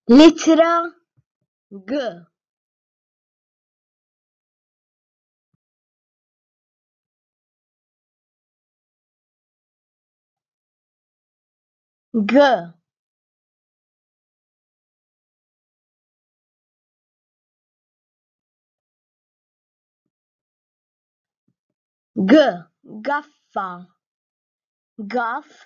L-ittra G. G. G. Gaffa. Gaff.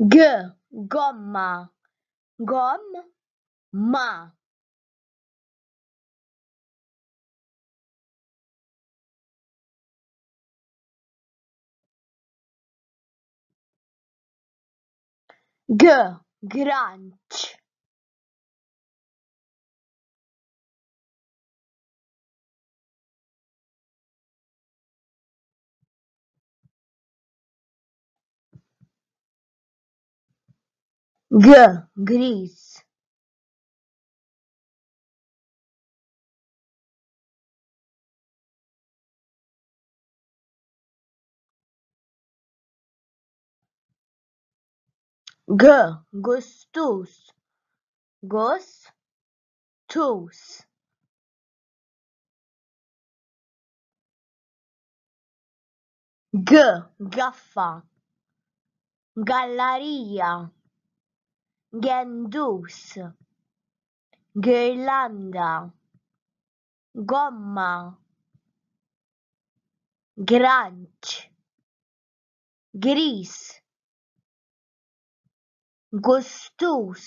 G Gomma Gom ma G Granċ G. Griż. G. Gustus. Gos. Tus. G gaffa gallarija gendus girlanda gomma granċ gris gustus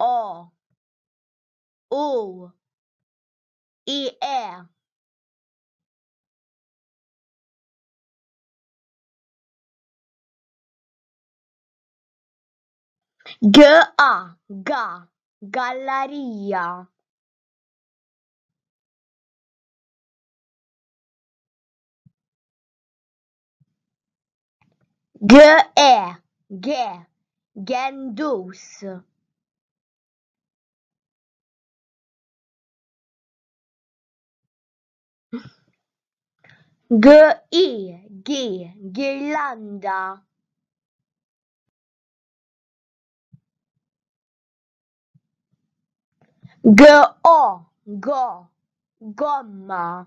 o u i e G a ga gallarija Gendus Girlanda Gomma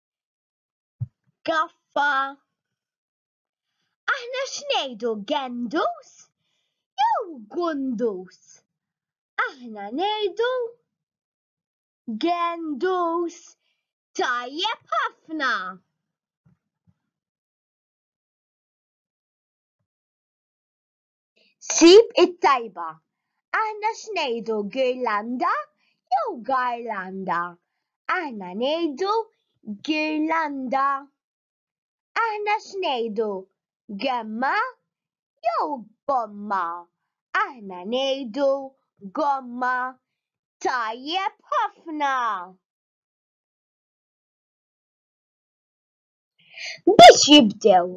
Gaffa. Aħna x'ngħidu gendus jew gundus? Aħna ngħidu gendus. Tajjeb ħafna. Sib it-tajba. Aħna x'ngħidu girlanda jew garlanda? Aħna ngħidu girlanda. Aħna x'ngħidu gemma jew gomma? Aħna ngħidu gomma. Tajjeb ħafna! Biex jibdew,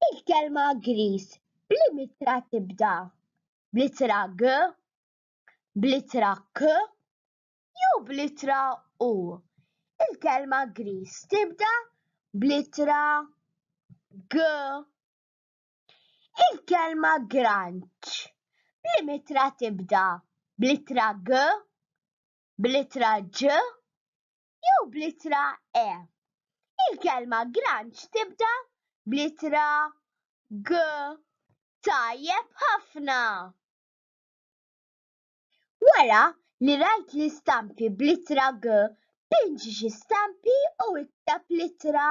il-kelma Griż b'liema ittra tibda, bl-ittra g, bl-ittra k jew bl-ittra u. Il-kelma Griż tibda bl-ittra g. Il-kelma Granċ b'liema ittra tibda, bl-ittra g, bl-ittra ġ jew bl-ittra e. Il-kelma granċ tibda bl-ittra g. Tajjeb ħafna! Wara li rajt l-istampi bl-ittra g, pinġi xi stampi u ikteb l-ittra.